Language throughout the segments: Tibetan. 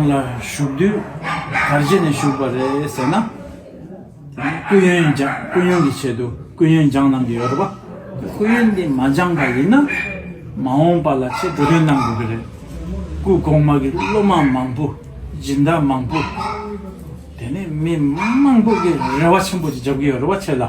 ལ་བཞུགས་དུས་གར་བྱེད་ནས་བཞུགས་པ་རེད་ཟེར་ན། སྐུ་ཡོན་སྦྱངས་སྐུ་ཡོན་གྱི་ཆེད་དུ་སྐུ་ཡོན་སྦྱངས་གནང་གི་ཡོད་རེད་པ། སྐུ་ཡོན་དེ་མ་སྦྱངས་པ་ཡིན་ན། མ་འོངས་པ་ལ་ཆེས་འགྲོ་དོན་གནང་དགོས་ཀྱི་རེད། སྐུ་གོང་མ་གི་སློབ་མ་མང་པོ་སྦྱིན་བདག་མང་པོ། དེ་ནས་མི་མང་པོ་གི་རེ་བ་ཆེན་པོ་ཞིག་འཇབ་ཀྱི་ཡོད་རེད་པ་ཁྱེད་ལ།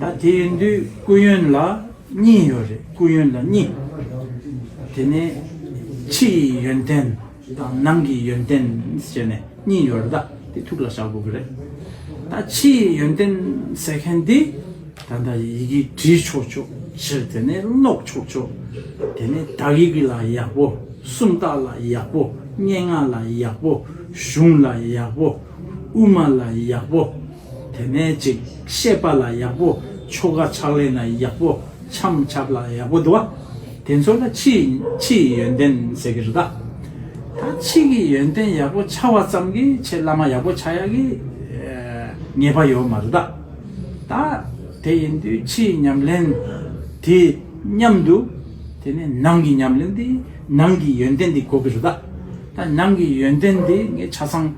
ད་དེ་འདུས་སྐུ་ཡོན་ལ་གཉིས་ཡོད་རེད་སྐུ་ཡོན་ལ་གཉིས། དེ་ནས་ཕྱི་ཡི་ཡོན་ཏན་དང་ནང་གི་ཡོན་ཏན་ཞེས་ནས་གཉིས་ཡོད་རེད་ད་དེ་ཐུགས་ལ་བཞག་དགོས་ཀྱི་རེད། ད་ཕྱི་ཡི་ཡོན་ཏན་ཟེར་མཁན་དེ་ད་ལྟ་ཡི་གེ་བྲིས་ཆོག་ཆོག་ཕྱིར་དེ་ནས་ཀློག་ཆོག་ཆོག་དེ་ནས་དག་ཡིག་ལ་ཡག་པོ་སུམ་རྟགས་ལ་ཡག་པོ་སྙན་ངག་ལ་ཡག་པོ་གཞུང་ལ་ཡག་པོ་དབུ་མ་ལ་ཡག་པོ། དེ་ནས་ཅིག་བཤད་པ་ལ་ཡག་པོ་ཆོ་ག་ཕྱག་ལེན་ལ་ཡག་པོ་འཆམ་ཆབ་ལ་ཡག་པོ་འདུ་བ། དེ་ཚོ་ལ་ཕྱི་ཕྱི་ཡི་ཡོན་ཏན་ཟེར་གི་རེད་ད། ད་ཕྱི་གི་ཡོན་ཏན་ཡག་པོ་འཆའ་བ་ཙམ་གྱིས་ཆེས་བླ་མ་ཡག་པོ་ཆགས་ཡག་གི་ངེས་པ་ཡོད་མ་རེད་ད། ད་དེ་ཡིན་དུས་ཕྱི་ཡི་ཉམས་ལེན་དེ་མཉམ་དུ་དེ་ནས་ནང་གི་ཉམས་ལེན་དེ་ནང་གི་ཡོན་ཏན་དེ་གོ་གི་རེད་ད། ད་ནང་གི་ཡོན་ཏན་དེ་ངས་ཆ་ཚང།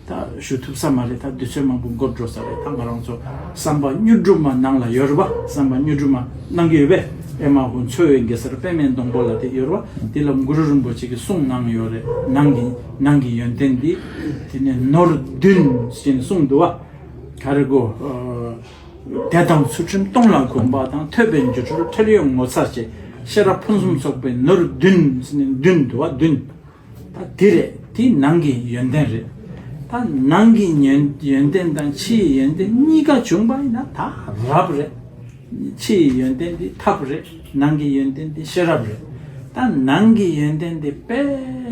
ད་ཞུ་ཐུབ་ས་མ་རེད་ད་དུས་ཚོད་མང་པོ་འགོར་འགྲོ་ས་རེད་ད་ང་རང་ཚོ་བསམ་པ་སྨྱོ་སྒྲུབ་མ་གནང་ལ་ཡོད་རེད་བ་བསམ་པ་སྨྱོ་སྒྲུབ་མ་གནང་གི་ཡོད་པས་ཨེ་མ་ཧོ་མཚོ་བོད་གེ་སར་པད་མའི་སྡོང་པོ་ལ་དེ་ཡོད་རེད་བ་དེ་ལ་གུ་རུ་རིན་པོ་ཆེ་གི་གསུང་གནང་ཡོད་རེད་གནང་གི་གནང་གི་ཡོན་ཏན་དེ་དེ་ནས་ནོར་བདུན་ཞེས་ནས་གསུངས་འདུག་བ་ག་རེ་གོ་དད་དང་ཚུལ་ཁྲིམས་སྟོང་ལ་དགོངས་པ་དང་ཐོས་པའི་འགྱུ་འཕྲོར་ཁྲེལ་ཡོད་ངོ་ཚ་བྱེད་ཤེས་རབ་ཕུན་སུམ་ཚོགས་པའི་ནོར་བདུན་ཞེས་ནས་བདུན་འདུག་བ་བདུན། ད་དེ་རེད་དེ་ནང་གི་ཡོན་ཏན་རེད། ད་ནང་གི་ཡོན་ཏན་དང་ཕྱི་ཡི་ཡོན་ཏན་གཉིས་ཀ་བྱུང་པ་ཡིན་ན་ད་རབ་རེད། ཕྱི་ཡི་ཡོན་ཏན་དེ་ཐབས་རེད་ནང་གི་ཡོན་ཏན་དེ་ཤེས་རབ་རེད། ད་ནང་གི་ཡོན་ཏན་དེ་དཔེ་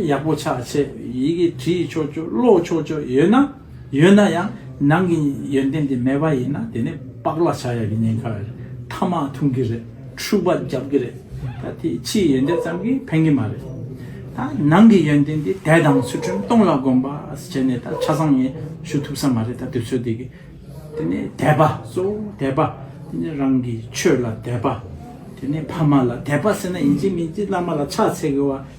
ཡག་པོ་ཆགས་ཆེད་ཡི་གེ་བྲིས་ཆོག་ཆོག་ཀློག་ཆོག་ཆོག་ཡོད་ན། ཡོད་ན་ཡང་ནང་གི་ཡོན་ཏན་དེ་མེད་པ་ཡིན་ན་དེ་ནི་པགས་ལ་བྱ་ཡག་གི་ཉེན་ཁ་རེད། ཐ་མག་འཐུང་གི་རེད། འཁྲུག་པ་རྒྱབ་ཀྱི་རེད། ད་དེ་ཕྱིའི་ཡོན་ཏན་ཙམ་གྱིས་ཕན་གྱི་མ་རེད། ད་ནང་གི་ཡོན་ཏན་དེ་དད་དང་ཚུལ་ཁྲིམས་སྟོང་ལ་སྒོམ་པ་བྱས་ནས་ད་ཆ་བཟང་ངན་ཞུ་ཐུབ་ས་མ་རེད་ད་དུས་ཚོད་དེ་གི་དེ་ནི་དད་པ་གཙོ་བོ་དད་པ་དེ་ནི་རང་གི་ཆོས་ལ་དད་པ་དེ་ནི་ཕ་མ་ལ་དད་པ་ཟེར་ན་ཡིན་གཅིག་མིན་གཅིག་བླ་མ་ལ་ཕྱག་འཚལ་དགོས་བ་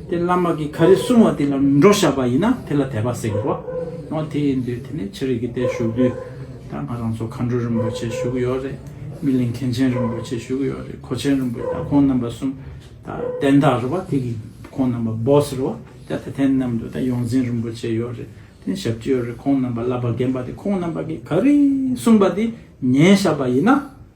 དེ་བླ་མ་གིས་ག་རེ་གསུང་བ་དེ་ལ་མི་འགྲོ་བཞག་པ་ཡིན་ན་དེ་ལ་དད་པ་ཟེར་རོ། འོ་དེ་ཡིན་དུས་དེ་ནས་ཕྱི་རིགས་ཀྱི་དེར་བཞུགས་དུས་ད་ང་རང་ཚོ་མཁའ་འགྲོ་རིན་པོ་ཆེ་བཞུགས་ཡོད་རེད། སྨིན་གླིང་མཁན་ཆེན་རིན་པོ་ཆེ་བཞུགས་ཡོད་རེད་གོ་ཆེན་རིན་པོ་ད་ཁོང་རྣམ་པ་གསུམ་ད་དན་བདག་རེད་བ་དེ་གི་ཁོང་རྣམ་པ boss རེད་བ་དེ་ད་དན་རྣམ་དུ་ད་ཡོངས་འཛིན་རིན་པོ་ཆེ་ཡོད་རེད་དེ་ནས་ཞབས་ཀྱི་ཡོད་རེད་ཁོང་རྣམ་པ་བསླབ་པ་རྒན་པ་དེ་ཁོང་རྣམ་པ་གིས་ག་རེ་གསུང་བ་དེ་ཉན་བཞག་པ་ཡིན་ན།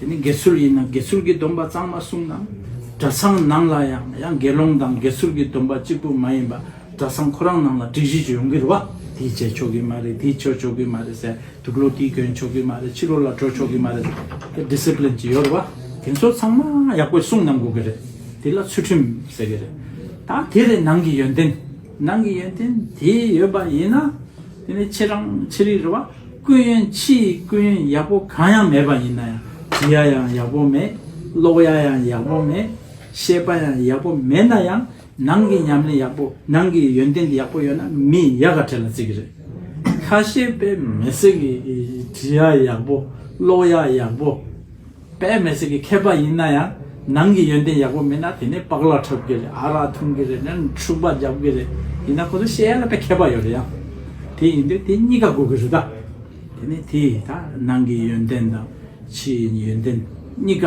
དེ་ནི་དགེ་ཚུལ་ཡིན་ན་དགེ་ཚུལ་གྱི་སྡོམ་པ་གཙང་མ་བསྲུང་ན། གྲྭ་ཚང་ནང་ལ་ཡང་ཡང་དགེ་སློང་དང་དགེ་ཚུལ་གྱི་སྡོམ་པ་གཅིག་པུ་མ་ཡིན་པ་གྲྭ་ཚང་ཁོ་རང་ནང་ལ་སྒྲིག་གཞི་ཡོང་གི་རེད་བ། དེའི་རྗེས་ཆོག་གི་མ་རེད་དེའི་ཕྱིར་ཆོག་གི་མ་རེད་ཟེར་འདུག་ལོ་དེའི་གྱོན་ཆོག་གི་མ་རེད་ཕྱི་ལོ་ལ་འགྲོ་ཆོག་གི་མ་རེད་དེ Discipline ཅིག་ཡོད་རེད་བ། དེ་ཚོ་ཚང་མ་ཡག་པོས་བསྲུང་གནང་དགོས་ཀྱི་རེད་དེ་ལ་ཚུལ་ཁྲིམས་ཟེར་གྱི་རེད། ད་དེ་རེད་ནང་གི་ཡོན་ཏན། ནང་གི་ཡོན་ཏན་དེ་ཡོད་པ་ཡིན་ན་དེ་ནི་ཁྱེད་རང་ཁྱེད་རིགས་རེད་བ། སྐུ་ཡོན་ཕྱི་ཡི་སྐུ་ཡོན་ཡག་པོ་གང་ཡང་མེད་པ་ཡིན་ན་ཡང་བྲི་ཡ་ཡང་ཡག་པོ་མེད་ཀློག་ཡ་ཡང་ཡག་པོ་མེད་བཤད་པ་ཡང་ཡག་པོ་མེད་ན་ཡང་ནང་གི་ཉམས་ལེན་ཡག་པོ་ནང་གི་ཡོན་ཏན་ཡག་པོ་ཡོད་ན་མི་ཡག་ག་ཁྲལ་ལ་རྩི་གི་རེད། ཁ་ཤས་པས་མེ་བསྲེགས་གི་བྲི་ཡ་ཡག་པོ་ཀློག་ཡ་ཡག་པོ། པད་མེ་སྲེག་གི་མཁས་པ་ཡིན་ན་ཡང་ནང་གི་ཡོན་ཏན་ཡག་པོ་མེད་ན་དེ་ནས་པགས་ལ་འཁྲབ་གི་རེད་ཨ་རག་འཐུང་གི་རེད་ནས་འཁྲུག་པ་རྒྱབ་གི་རེད་ཡིན་ན་ཁོ་ཚོ་ཤེས་ཡ་ལ་པད་མཁས་པ་ཡོད་རེད་ཡ་དེ་ཡིན་དུས་དེ་གཉིས་ཀ་དགོས་གི་རེད་ད་དེ་ནས་དེས་ད་ནང་གི་ཡོན་ཏན་དང་ཕྱིའི་ཡོན་ཏན་གཉིས་ཀ།